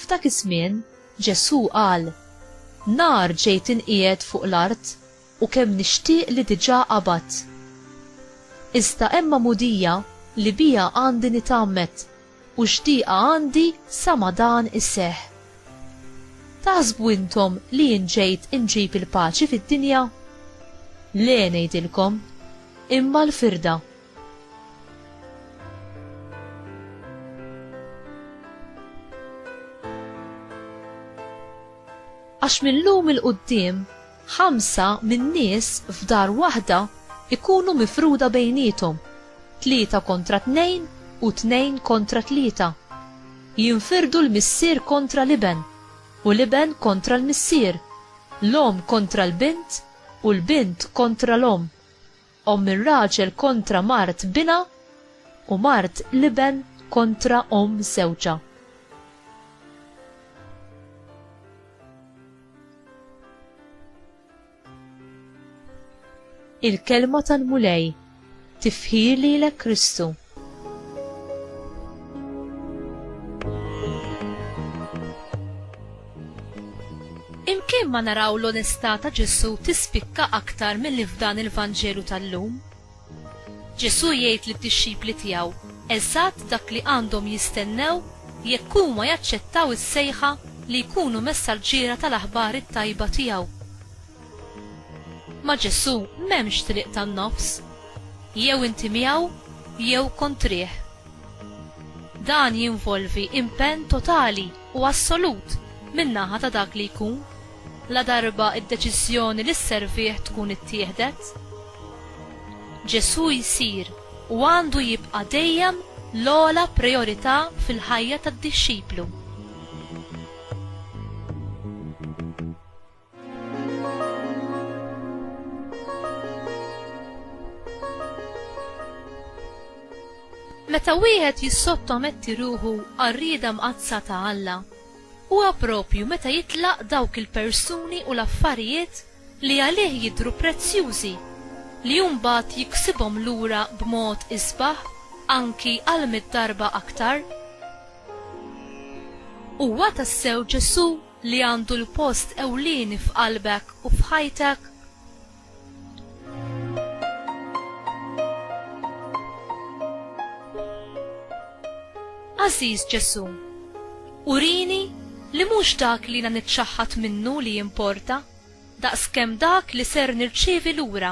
F'dak iż-żmien Ġesù qal, Nar ġej tinqiegħed fuq l-art u kemm nixtieq li diġà qabadt. Iżda hemm għamudija li biha għandi nitgħammed u xtieqa għandi sa ma dan iseħħ. Taħsbu intom li jien ġejt inġib il-paċi fid-dinja? Le ngħidilkom, imma l-firda. Għax minn llum 'il quddiem Ħamsa min-nies f'dar waħda jkunu mifruda bejniethom, tlieta kontra tnejn u tnejn kontra tlieta. Jinfirdu l-missier kontra l-iben, u l-iben kontra l-missier, l-omm kontra l-bint, u l-bint kontra l-omm. Omm ir-raġel kontra mart binha, u mart l-iben kontra omm żewġha. Il-Kelma tal-Mulej, Tifħir lilek Kristu. Imkien ma naraw l-onestà ta' Ġesù tispikka aktar milli f'dan il-Vanġelu tal-lum. Ġesù jgħid lid-dixxipli tiegħu eżatt dak li għandhom jistennew jekk huma jaċċettaw is-sejħa li jkunu messaġġiera tal-aħbar it-tajba tiegħu. Ma' Ġesù m'hemmx triq tan-nofs. Jew inti miegħu jew kontrih. Dan jinvolvi impenn totali u assolut min-naħa ta' dak li jkun, ladarba d-deċiżjoni li sservih tkun ittieħdet. Ġesù jsir u għandu jibqa' dejjem l-ogħla prijorità fil-ħajja tad-dixxiplu. Meta wieħed jissottometti ruħu għar-rieda mqaddsa ta' Alla, huwa proprju meta jitlaq dawk il-persuni u l-affarijiet li għalih jidhru prezzjużi li hu mbagħad jiksibhom lura b'mod isbaħ anki għall-mitt darba aktar. Huwa tassew Ġesù li għandu l-post ewlieni f'qalbek u f'ħajtek? Għażiż Ġesù, urini li mhux dak li jiena niċċaħħad minnu li jimporta, daqskemm dak li ser nirċievi lura.